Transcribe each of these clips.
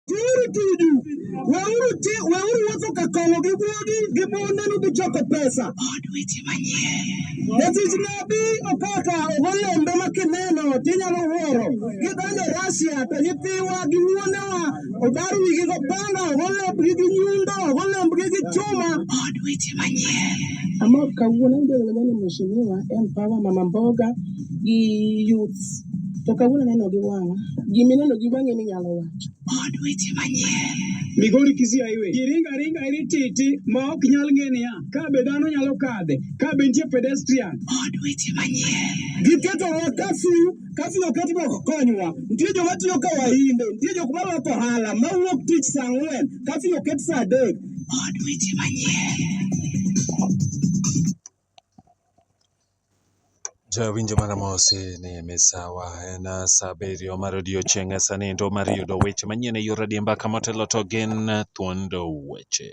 Weuru tuju, weuru ti, weuru wuotho ka kong'o gi guogi gi mondenu gi choko pesa. Jatich nabi Opaka ogo lembe ma kineno tinyalo wuoro. Gidonjo Russia to nyithiwa gi wuonewa obar wigi go panga, ogo lembgi gi nyundo, ogo lembgi gi chuma. Amor kawuono, aneno jodongo ni Mheshimiwa Empower Mama Mboga gi youths. To kawuono aneno gi wang'a. Gima ineno gi wang'i ema inyalo wacho. Od weche manyien. Migori Kisii Highway. Ji ringo aringa eri titi ma ok nyal ng'e niya, ka be dhano nyalo kadhe, ka be nitie pedestrian. Od weche manyien. Giketowa kafyu, kafyu oket mondo ok konywa. Nitie joma tiyo ka wahinde, nitie jok ma loko ohala, ma wuok tich saa ang'wen, kafyu oket saa adek. Od weche manyien. Ja winjo mana mosi ni misawa en saa abiriyo mar odiochieng' e saa niendo mar yudo weche manyien e yor adiemba ka motelo to gin thuondo weche.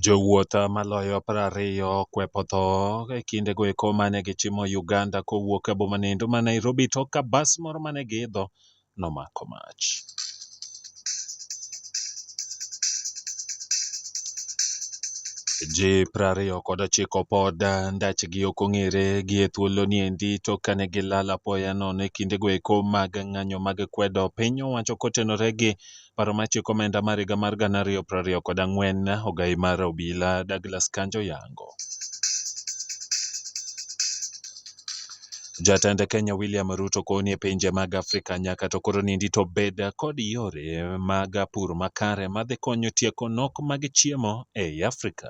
Jowuoth maloyo prariyo okwepo tho e kinde go eko mane gichimo Uganda kowuok e boma niendo ma Nairobi tok ka bas moro mane giidho nomako mach. Ji prariyo kod ochiko pod ndachgi ok ong'ere gi e thuoloni endi tok kane gilal apoya nono e kindego eko mag ng'anyo mag kwedo piny owacho kotenore gi Paro mar chik omenda mar higa mar gana ariyo prariyo kod ang'wen ogayi mar obila Douglas Kanja oyango. Jatend Kenya William Ruto kowo ni e pinje mag Afrika nyaka to koro nindi to bed kod yore mag pur makare madhi konyo tieko nok mag chiemo ei Afrika.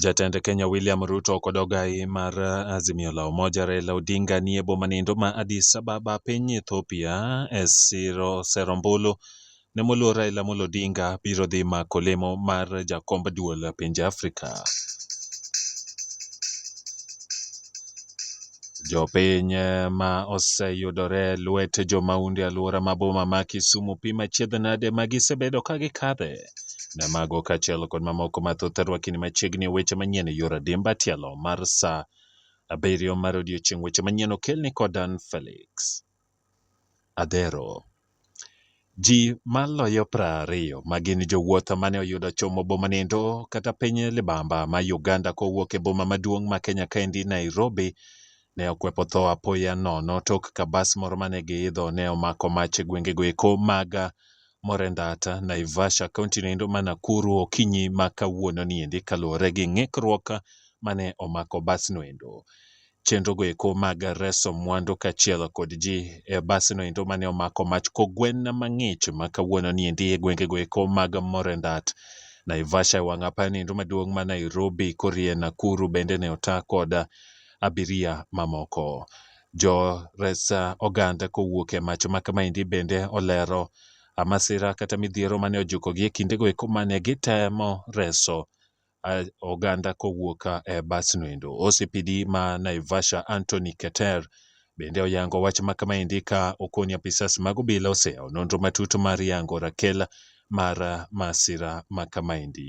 Jatend Kenya William Ruto kod ogai mar Azimio la Umoja Raila Odinga nie boma nindo ma Addis Ababa piny Ethiopia e siro sero ombulu ne moluor Raila Amolo Odinga biro dhi mako lemo mar jakomb duol pinje Afrika. Jopiny ma oseyudore e lwet jomaundu e alwora ma boma ma Kisumu pim achiedh nade ma gisebedo ka gikadhe. Ne mago kaachiel kod mamoko mathoth rwakini machiegni e weche manyien e yor adimba tielo mar sa abiriyo mar odiechieng' weche manyien okelni kod Dan Felix. adhero. Ji maloyo prariyo ma gin jowuoth mane oyudo chomo boma niendo kata piny libamba ma Uganda kowuok e boma maduong' ma Kenya kaendi Nairobi ne okwepo tho apoya nono tok ka bas moro mane giidho ne omako mach e gwengego eko mag Morendat, Naivasha kaunti noendo ma Nakuru okinyi ma kawuono niendi kaluwore gi ng'ikruok mane omako bas noendo. chenro go eko mag reso mwandu kachiel kod ji e basi no endo mane omako mach kogwen mang'ich ma kawuono ni endi e gwenge go eko mag Morendat Naivasha e wang' apaya ni endo maduong' ma Nairobi korie Nakuru bende ne ota kod abiria mamoko. Jo res oganda kowuok e mach ma kama endi bende olero masira kata midhiero mane ojukogi e kinde go eko mane gitemo reso oganda kowuok ka e bus no endo. OCPD ma Naivasha Anthony Keter bende oyango wach ma kamaendi ka okoni apisas mag obila oseyawo nonro matut mar yango rakel mar masira ma kamaendi.